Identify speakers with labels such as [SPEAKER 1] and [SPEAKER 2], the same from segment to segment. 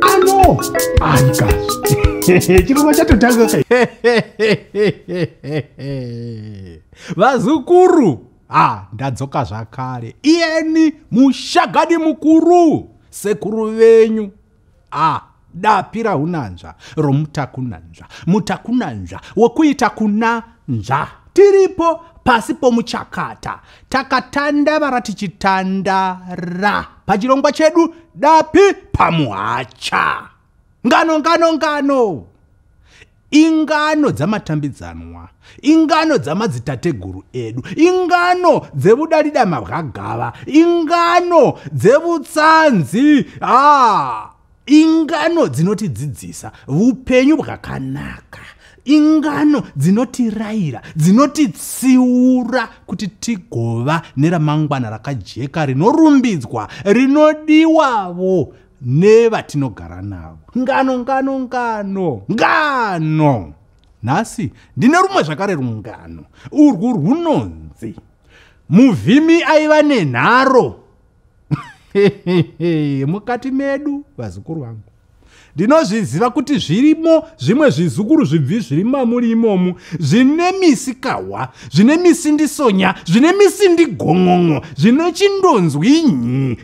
[SPEAKER 1] ano aikazi chirongwa chatotanga kai
[SPEAKER 2] vazukuru ha ndadzoka zvakare iyeni mushagadi mukuru sekuru venyu ah dapi raunanzva romutakunanzva mutakunanzva wokuita kuna nzva tiripo pasi pomuchakata takatanda vara tichitandara pachirongwa chedu dapi pamuhacha ngano ngano ngano ingano dzamatambidzanwa ingano dzamadzitateguru edu ingano dzevudalida mabwagava ingano dzevutsanzi ah, ingano dzinotidzidzisa vupenyu bwakanaka ingano dzinotirayira dzinotitsiura kuti tigova neramangwana rakajeka rinorumbidzwa rinodiwavo nevatinogara navo ngano ngano ngano ngano nhasi ndine rumwe zvakare rungano urwu rwunonzi muvhimi aiva nenharo mukati medu vazukuru vangu ndinozviziva kuti zvirimo zvimwe zvizukuru zvibvi zviri mamuri imomu zvine misi kahwa zvine misi ndisonya zvine misi ndigon'on'o zvine chindonzwi nyi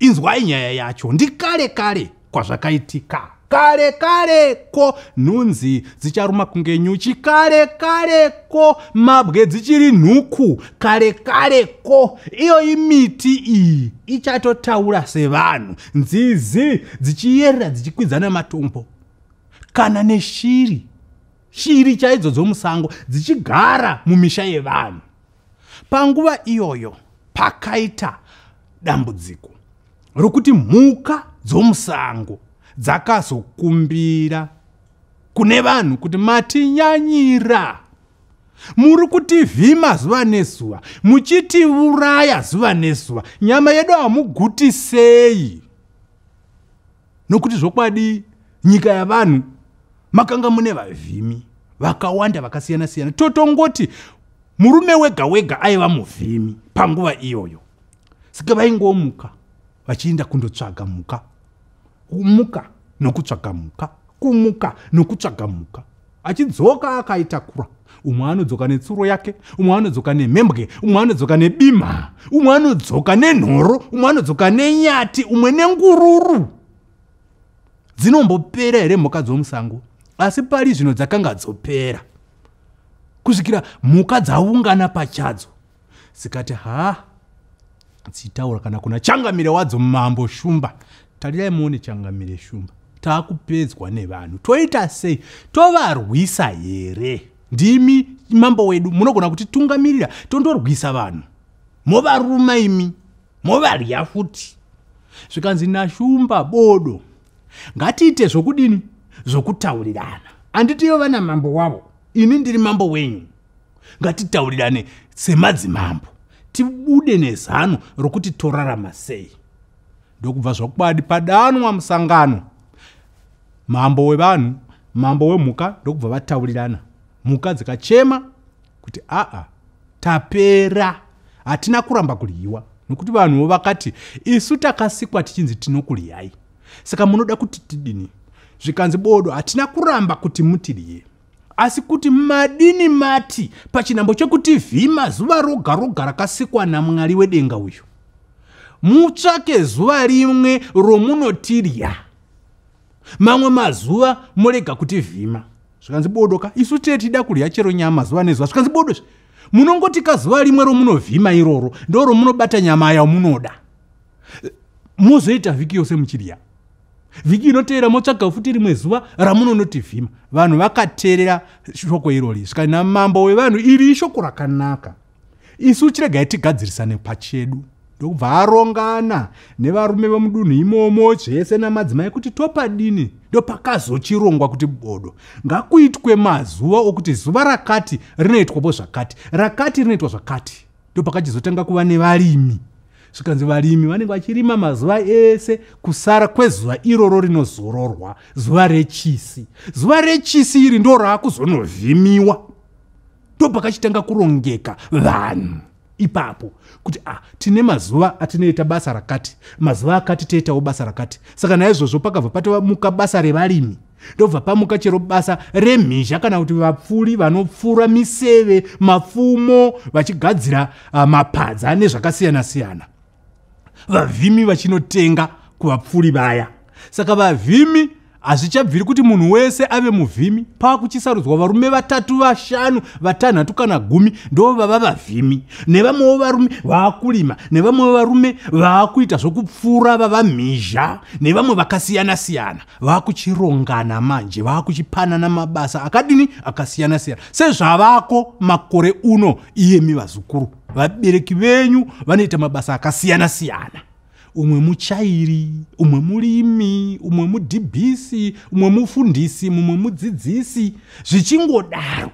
[SPEAKER 2] inzwai nyaya yacho ndikale kale kwazvakaitika kare kare ko nhunzi dzicharuma kunge nyuchi kare kare ko mabwe dzichiri nhuku kare kare ko iyoyi miti iyi ichatotaura sevanhu nzizi dzichiyerera dzichikwidzana matombo kana neshiri shiri chaidzo dzomusango dzichigara mumisha yevanhu Panguva iyoyo pakaita dambudziko rokuti mhuka dzomusango dzakazokumbira kune vanhu kuti matinyanyira muri kutivhima zuva nezuva muchitiuraya zuva nezuva nyama yedu hamugutisei nokuti zvokwadi nyika yavanhu makanga mune vavhimi vakawanda vakasiyana siyana totongoti murume wega wega aiva muvhimi panguva iyoyo saka vaingomuka vachienda kundotsvaga mhuka kumuka nokutsvaga mhuka kumuka nokutsvaga mhuka achidzoka akaitakura umwe anodzoka netsuro yake umwe anodzoka nemhembwe umwe anodzoka nebima umwe anodzoka nenhoro umwe anodzoka nenyati umwe nengururu dzinombopera here mhuka dzomusango asi pari zvino dzakanga dzopera kusvikira mhuka dzaungana pachadzo zikati haa dzitaura kana kuna changamire wadzo mambo shumba tarirai muone changamire shumba taakupedzwa nevanhu toita sei tovarwisa here ndimi mambo wedu munogona kuti tungamirira tondorwisa vanhu movaruma imi movarya futi zvikanzi nashumba bodo ngatiite zvokudini zvokutaurirana anditiyo vana mambo wavo ini ndiri mambo wenyu ngatitaurirane semadzimambo tibude nezano rokuti torarama sei ndokubva zvokwadi padanwa musangano mambo wevanhu mambo wemhuka ndokubva vataurirana mhuka dzikachema kuti aa tapera hatina kuramba kuryiwa nokuti vanhuwo vakati isu takasikwa tichinzi tinokuryai saka munoda kuti tidini zvikanzi bodo hatina kuramba kuti mutirye asi kuti madini mati pachinhambo chekutv mazuva roga roga rakasikwa namwari wedenga uyu mutsvake zuva rimwe romunotirya mamwe mazuva morega kuti vhima zvikanzi bodo ka isu tee tida kurya chero nyama zuva nezuva zvikanzi bodo zve munongoti ka zuva rimwe romunovhima iroro ndo romunobata nyama yamunoda mozoita vhiki yose muchirya vhiki inoteera motsvaga futi rimwe zuva ramunonotivhima vanhu vakateerera shoko irori svika namambo wevanhu iri ishoko rakanaka isu chiregai tigadzirisane pachedu ndokubva arongana nevarume vemudunhu imomo zvese namadzimai kuti topadini ndopakazochirongwa kuti bodo ngakuitwe mazuva okuti zuva rakati rinoitwapo zvakati rakati rinoitwa zvakati ndopakachizotanga kuva nevarimi zvikanzi varimi vanenge vachirima mazuva ese kusara kwezuva iroro rinozororwa zuva rechisi zuva rechisi iri ndo raakuzonovhimiwa ndopakachitanga kurongeka vanhu ipapo kuti ah, tine mazuva atinoita basa rakati mazuva akati toitawo basa rakati saka naizvozvo pakabva patomuka basa revarimi ndobva pamuka chero basa remhizha kana kuti vapfuri vanopfura miseve mapfumo vachigadzira uh, mapadza nezvakasiyana-siyana vavhimi vachinotenga kuvapfuri vaya saka vavhimi hazvichabviri kuti munhu wese ave muvhimi pava kuchisarudzwa varume vatatu vashanu vatanhatu kana gumi ndo vava vavhimi nevamwewo varume vaakurima nevamwewo varume vaakuita zvokupfuura vava mhizha nevamwe vakasiyana-siyana vakuchirongana manje vakuchipanana mabasa akadini akasiyana siyana sezvavako makore uno iyemi vazukuru vabereki venyu vanoita mabasa akasiyana siyana umwe muchairi umwe murimi umwe mudhibhisi umwe mufundisi mumwe mudzidzisi zvichingodaro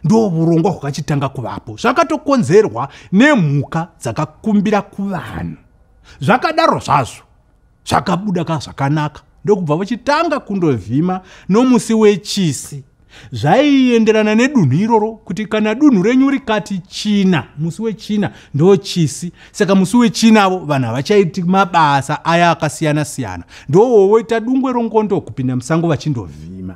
[SPEAKER 2] ndo vurongwa hwakachitanga kuvapo zvakatokonzerwa nemhuka dzakakumbira kuvanhu zvakadaro zvazvo zvakabuda ka zvakanaka ndokubva vachitanga kundovhima nomusi wechisi zvaienderana nedunhu iroro kuti kana dunhu renyu rikati china musi wechina ndochisi saka musi wechinavo vanhu havachaiti mabasa aya akasiyana siyana ndowowoita dungwe rongondo kupinda musango vachindovhima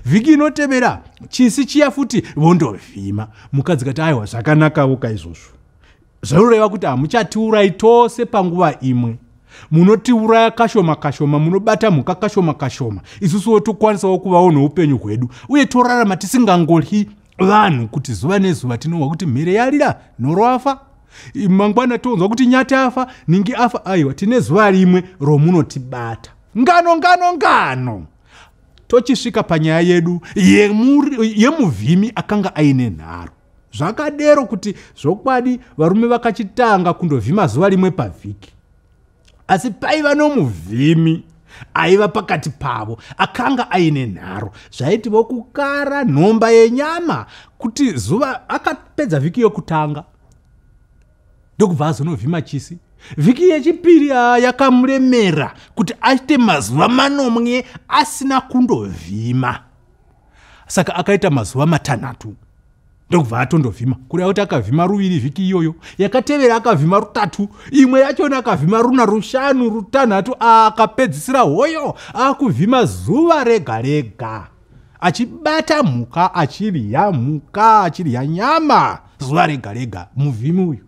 [SPEAKER 2] vhiki inotevera chisi chiya futi vondovhima mukadzi kati aiwa zvakanakawo ka izvozvo zvinoreva kuti hamuchatiurayi tose panguva imwe munotiuraya kashoma kashoma munobata mhuka kashoma kashoma isusuwo tokwanisawo kuvawo noupenyu hwedu uye torarama tisingangolyi vanhu kuti zuva nezuva tinonzwa kuti mhere yarira nhoro afa mangwana tonzwa kuti nyati afa ningi afa aiwa tine zuva rimwe romunotibata ngano ngano ngano tochisvika panyaya yedu yemuvhimi akanga aine nharo zvakadero kuti zvokwadi varume vakachitanga kundovhima zuva rimwe pavhiki asi paiva nomuvhimi aiva pakati pavo akanga aine nharo zvaiti vokukara nhomba yenyama kuti zuva akapedza vhiki yokutanga ndokubva azonovhima chisi vhiki yechipiri ah, yakamuremera kuti aite mazuva manomwe asina kundovhima saka akaita mazuva matanhatu ndokubva atondovhima kuri akuti akavhima ruviri vhiki iyoyo yakatevera akavhima rutatu imwe yachona akavhima runa rushanu rutanhatu akapedzisira hoyo akuvhima zuva rega rega achibata mhuka achirya mhuka achirya nyama zuva rega rega muvhimi uyu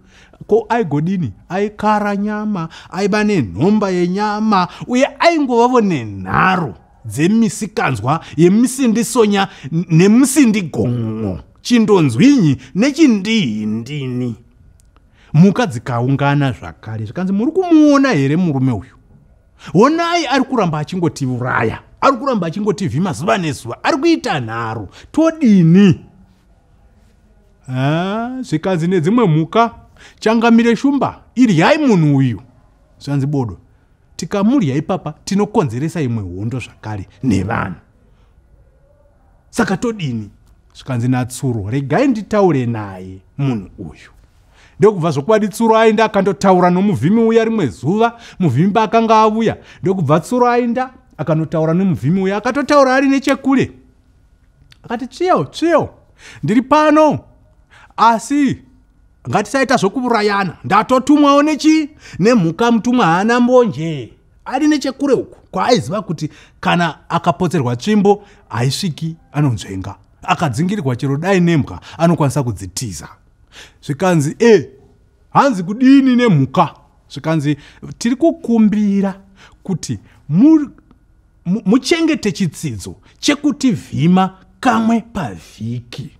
[SPEAKER 2] ko aigodini aikara nyama aiva nenhomba yenyama uye aingovavo nenharo dzemisikanzwa yemisindisonya nemusindigon'o chindonzwinyi nechindihindini mhuka dzikaungana zvakare zvikanzi muri kumuona here murume uyu honai ari kuramba achingotiuraya ari kuramba achingotivhima zuva nezuva ari kuita nharo todini zvikanzi nedzimwe mhuka changamire shumba iryai munhu uyu zvanzi bodo tikamudya ipapa tinokonzeresa imwe hondo zvakare nevanhu saka todini zvikanzi natsuro regai nditaure naye munhu uyu ndokubva zvokwadi tsuro ainda akandotaura nomuvhimi uya rimwe zuva muvhimi paakanga avuya ndokubva tsuro ainda akanotaura nomuvhimi uya akatotaura ari nechekule akati tsviyo tsviyo ndiri pano asi ngatisaita zvokuurayana ndatotumwawo nechii nemhuka mutumwa haana mbonje ari nechekure uku kwaaiziva kuti kana akapotserwa tsvimbo haisviki anonzvenga akadzingirirwa chero dai nembwa anokwanisa kudzitiza zvikanzi e hanzi kudini nemhuka zvikanzi tiri kukumbira kuti muchengete chitsidzo chekuti vhima kamwe pavhiki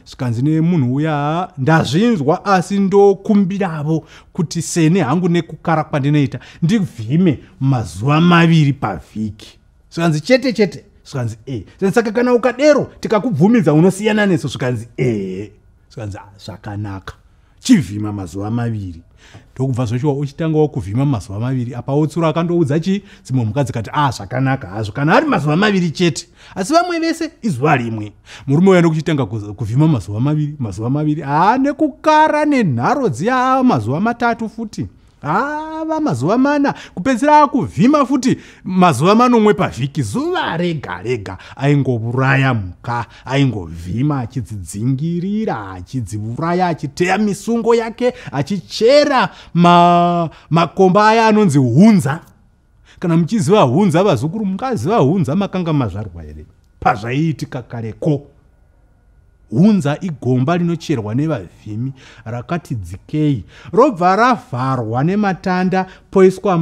[SPEAKER 2] zvikanzi nemunhu uya ndazvinzwa asi ndokumbiravo kuti seni hangu nekukara kwandinoita ndivhime mazuva maviri pavhiki zvikanzi chete chete zvikanzi e saka kana ukadero tikakubvumidza unosiyana neso zvikanzi ehe zvikanzi ah, zvakanaka chivhima mazuva maviri ndokubva zvachiwa uchitanga wakuvhima mazuva maviri apa wotsuro akandoudza chii dzimwe mhuka dzikati a ah, zvakanaka hazvo kana ari mazuva maviri chete asi vamwe vese izuva rimwe murume uya ndokuchitanga kuvhima mazuva maviri mazuva maviri haa ah, nekukara nenharo dziya ah, mazuva matatu futi hava mazuva mana kupedzisira akuvhima futi mazuva manomwe pavhiki zuva rega rega aingovuraya mhuka aingovhima achidzidzingirira achidzivuraya achiteya misungo yake achichera ma, makomba aya anonzi hunza kana muchiziva hunza vazukuru mungaziva hunza makanga mazvarwa here pazvaiitika kareko hunza igomba rinocherwa nevavhimi rakati dzikei robva ravharwa nematanda poiswa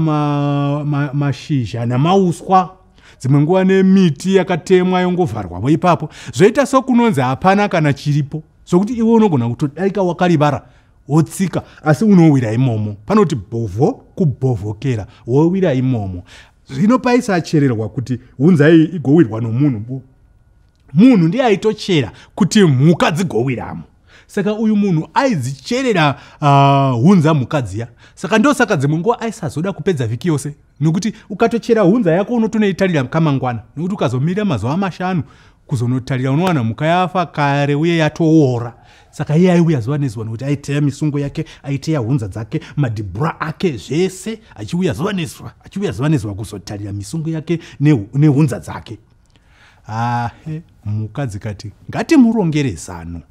[SPEAKER 2] mashizha ma, ma nemauswa dzimwe nguva nemiti yakatemwa yongovharwavo ipapo zvoita sokunonzi hapana kana chiripo zvokuti iwe unogona kutodarika wakarivara wotsika asi unowira imomo panoti bhovho kubhovhokera wowira imomo zvino paisachererwa kuti hunzai igowirwa nomunhu bu munhu ndiye aitochera kuti mhuka dzigowiramo saka uyu munhu aidzicherera ah, hunza uh, mhuka dziya saka ndosaka dzimwe nguva aisazoda kupedza vhiki yose nokuti ukatochera hunza yako unotonoitarira kamangwana nokuti ukazomirira mazuva mashanu kuzonotarira unowana mhuka yafa kare uye yatoora saka iye aiuya zuva nezuva nokuti aiteya misungo yake aiteya hunza dzake madhibhura ake zvese achiuya zuva nezuva achiuya zuva nezuva kuzotarira misungo yake nehunza dzake ahe mhuka dzikati ngatimurongere zano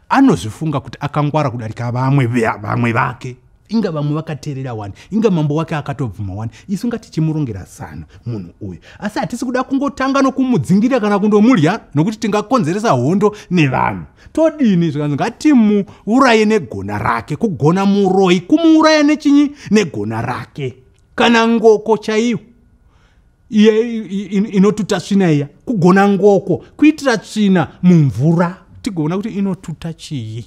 [SPEAKER 2] anozvifunga kuti akangwara kudarika vamwe vamwe vake inga vamwe vakateerera wani inga mambo wake akatobvuma wani isu nga tichimurongera zano munhu uyu asi hatisi kuda kungotanga nokumudzingirira kana kundomudya nokuti tingakonzeresa hondo nevanhu todini zvikanzi ngatimuuraye negona rake kugona muroyi kumuuraya nechinyi negona rake kana ngoko chaiyo iye inotuta tsvina iya kugona ngoko kuitira tsvina mumvura tigoona kuti inotuta chii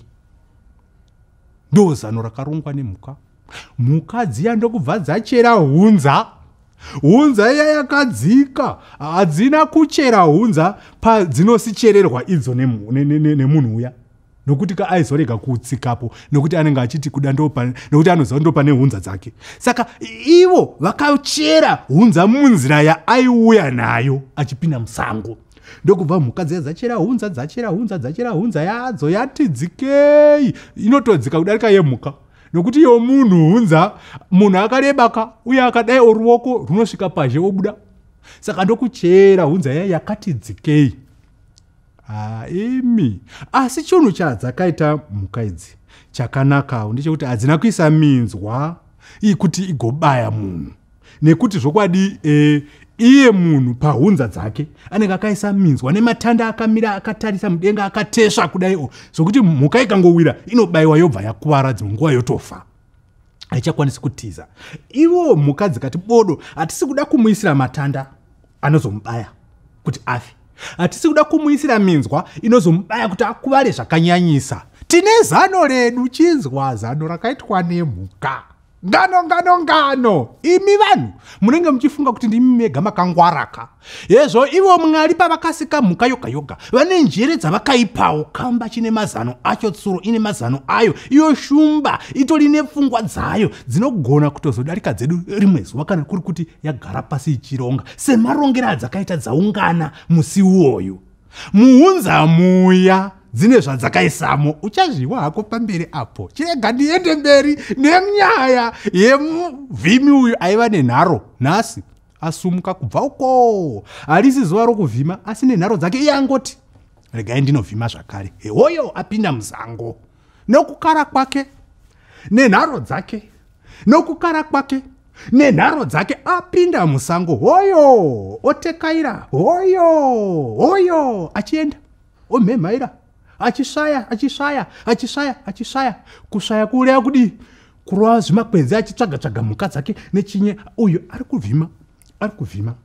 [SPEAKER 2] ndo zano rakarongwa nemhuka mhuka dziya ndokubva dzachera hunza hunza iya yakadzika hadzina kuchera hunza padzinosichererwa idzo nemunhu uya ne, ne, ne, ne, ne, ne, ne, ne, ne, ne, ne, nokuti ka aizorega kutsikapo nokuti anenge achiti kuda ndopane nokuti anoziva ndopane hunza dzake saka ivo vakachera hunza munzira yaaiuya nayo achipinda musango ndokubva mhuka dziya dzachera hunza dzachera hunza dzachera hunza yadzo yati dzikei inotodzika kudarika yemhuka nokuti iyo munhu hunza munhu akarebaka uye akadai oruoko runosvika pazhe obuda saka ndokuchera hunza yai yakati dzikei haa ah, imi asi chunhu chadzakaita mhuka idzi chakanakawo ndechekuti hadzina kuisa minzwa iyi kuti igobaya munhu nekuti zvokwadi e, iye munhu pahunza dzake anenge akaisa minzwa nematanda akamira akatarisa mudenga akatesva kudaiwo zvokuti mhuka ikangowira inobayiwa yobva yakuvara dzimwe nguva yotofa haichakwanisi kutiza ivo mhuka dzikati bodo hatisi kuda kumuisira matanda anozomubaya kuti afe hatisi kuda kumuisira minzwa inozomubaya kuti akuvare zvakanyanyisa tine zano redu chinzwa zano rakaitwa nemhuka ngano ngano ngano imi vanhu munenge muchifunga kuti ndimi mega makangwaraka hezvo ivo mwari pavakasika mhuka yoga yoga vane njere dzavakaipawo kamba chine mazano acho tsuro ine mazano ayo iyo shumba itori nepfungwa dzayo dzinogona kutozodarika dzedu rimwe zuva kana kuri kuti yagara pasi ichironga semarongero adzakaita dzaungana musi uwoyo muunza muya dzine zvadzakaisamo uchazviwa hako pamberi apo chirega ndiende mberi nenyaya yemuvhimi uyu aiva nenharo nhasi asumuka kubva ukoo harisi zuva rokuvhima asi nenharo dzake iye angoti regai ndinovhima zvakare hewoyo apinda muzango nokukara kwake nenharo dzake nokukara kwake nenharo dzake apinda musango hoyo otekaira hoyo hoyo achienda omhemhaira achisvaya achisvaya achisvaya achisvaya kusvaya kuureya kudii kurova zvimakwenzi achitsvaga tsvaga mhuka dzake nechinye uyu ari kuvhima ari kuvhima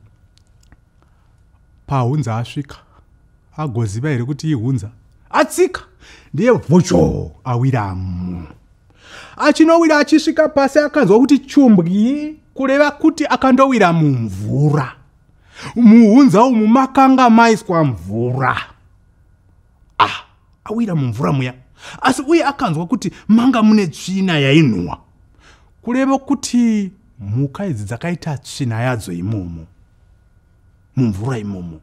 [SPEAKER 2] pahunza asvika agoziva here kuti ihunza atsika ndiye vocho awiramo achinowira achisvika pasi akanzwa kuti chumbwi kureva kuti akandowira mumvura muhunza umu makanga maiswa mvura ah awira mumvura muya asi uye akanzwa kuti manga mune tsvina yainhuwa kureva kuti mhuka idzi dzakaita tsvina yadzo imomo mumvura imomo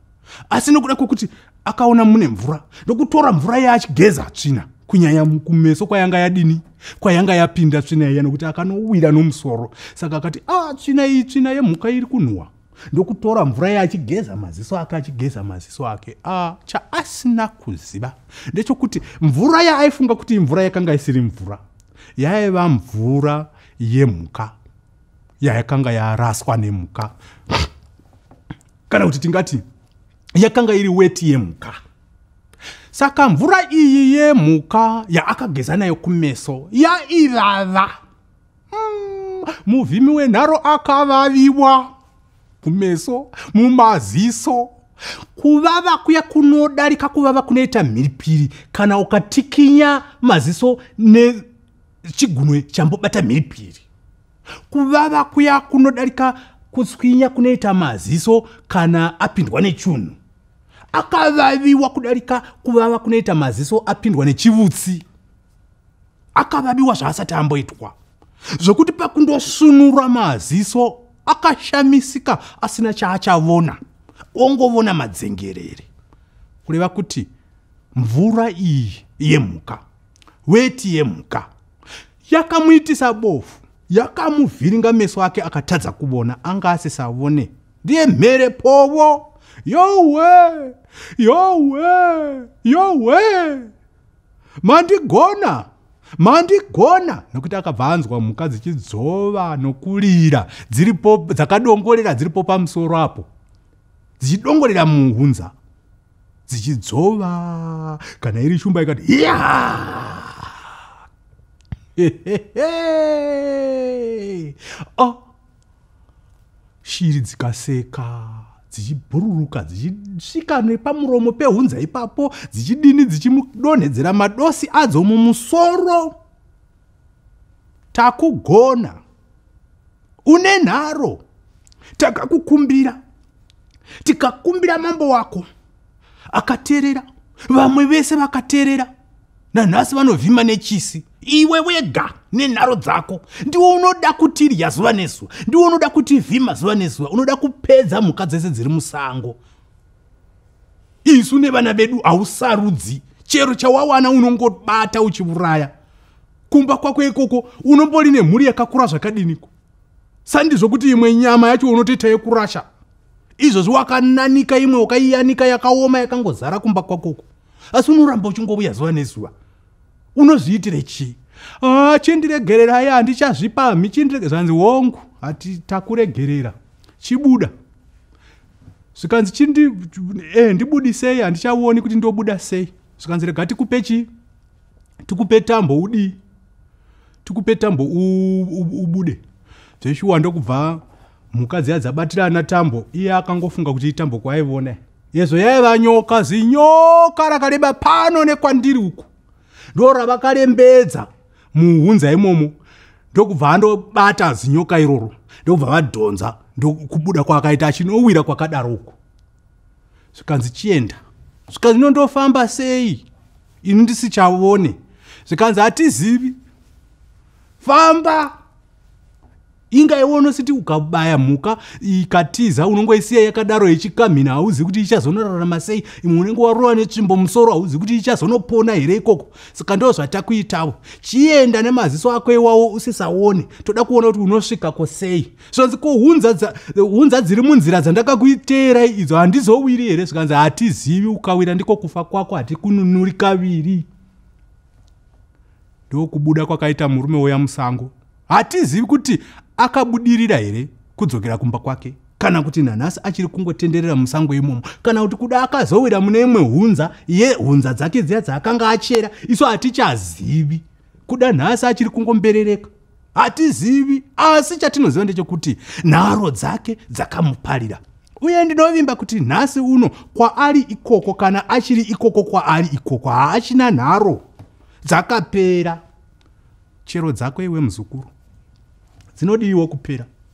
[SPEAKER 2] asi nokuda kwokuti akaona mune mvura ndokutora mvura iya achigeza tsvina kunyanya kumeso kwayanga yadini kwayanga yapinda tsvina iya nokuti akanowira nomusoro saka akati a ah, tsvina iyi tsvina yemhuka iri kunhuwa ndokutora mvura iya achigeza maziso ake achigeza maziso ake a ah, chaasina kuziva ndechokuti mvura yaaifunga kuti imvura yakanga isiri mvura yaiva mvura yemhuka yayakanga yaraswa nemhuka kana kuti tingati yakanga iri weti yemhuka saka mvura iyi yemhuka yaakageza nayo kumeso yaivava mm, muvhimi wenharo akavaviwa kumeso mumaziso kuvava kuya kunodarika kuvava kunoita mhiripiri kana ukatikinya maziso ne chigunwe chambobata mhiripiri kuvava kuya kunodarika kutswinya kunoita maziso kana apindwa nechunhu akavaviwa kudarika kuvava kunoita maziso apindwa nechivutsi akavaviwa zvaasati amboitwa zvokuti pakundosunura maziso akashamisika asina chaachavona ongovona madzengerere kureva kuti mvura iyi yemhuka weti yemhuka yakamuitisa bofu yakamuvhiringa meso ake akatadza kuvona anga asisavone ndiye mhere povo yowe yowe yowe mandigona mandigona nokuti akabva anzwa mhuka dzichidzova nokurira dziripo dzakadongorera dziripo pamusoro apo dzichidongorera muhunza dzichidzova kana iri shumba ikati hiya oh. shiri dzikaseka dzichibhururuka dzichisvika nepamuromo pehunza ipapo dzichidini dzichimudonhedzera madosi adzo mumusoro takugona une nharo takakukumbira tikakumbira mambo wako akaterera vamwe vese vakaterera nanhasi vanovhima nechisi iwe wega nenharo dzako ndiwo unoda kutirya zuva nezuva ndiwo unoda kutivhima zuva nezuva unoda kupedza mhuka dzese dziri musango isu nevana vedu hausarudzi chero chawawana unongobata uchivuraya kumba kwako ikoko unombori nemhuri yakakura zvakadiniko sandizvo kuti imwe nyama yacho unotoita yekurasha izvozvi wakananika imwe wakaiyanika yakaoma yakangozara kumba kwakoko asi unoramba uchingovuya zuva nezuva unozviitire chii ah, chindiregererai handichazvipamhi chindirege zvanzi hongu hati takuregerera chibuda zvikanzi chindi eh, ndibudisei handichaoni kuti ndobuda sei zvikanzi rega tikupe chii tikupe tambo udii tikupe tambo ubude zveshuwa ndokubva mhuka dziya dzabatirana tambo iye akangofunga kuti itambo kwaivona yezvo yaiva nyoka zinyoka rakareba pano nekwandiri uku ndorabakarembedza muhunza imomo ndokubva andobata zinyoka iroro ndokubva vadhonza ndokubuda kwaakaita achinowira kwakadaro uko zvikanzi chienda zvikanzi nondofamba sei ini ndisichavone zvikanzi hatizivi famba inga iwe unositi ukabaya mhuka ikatiza unongoisiya yakadaro ichikamhina hauzi kuti ichazonorarama sei imwe unenge warova netsvimbo musoro hauzi kuti ichazonopona here ikoko saka ndo zvatakuitavo chienda nemaziso ako iwawo usisaone toda kuona kuti unosvikako sei zvanzi ko hunza dziri munzira dzandakakuiteerai idzo handizowiri here zvikanzi hatizivi ukawira ndiko kufa kwako hatikununuri kaviri ndokubuda kwakaita murume woya musango hatizivi kuti akabudirira here kudzokera kumba kwake kana kuti nanhasi achiri kungotenderera musango imomo kana kuti kuda akazowira mune imwe hunza ye hunza dzake dziya dzaakanga achera isu hatichazivi kuda nhasi achiri kungomberereka hatizivi asi chatinoziva ndechekuti nharo dzake dzakamuparira uye ndinovimba kuti nhasi uno kwaari ikoko kana achiri ikoko kwaari ikoko haachina nharo dzakapera chero dzako iwe muzukuru dzinodiiwo kupera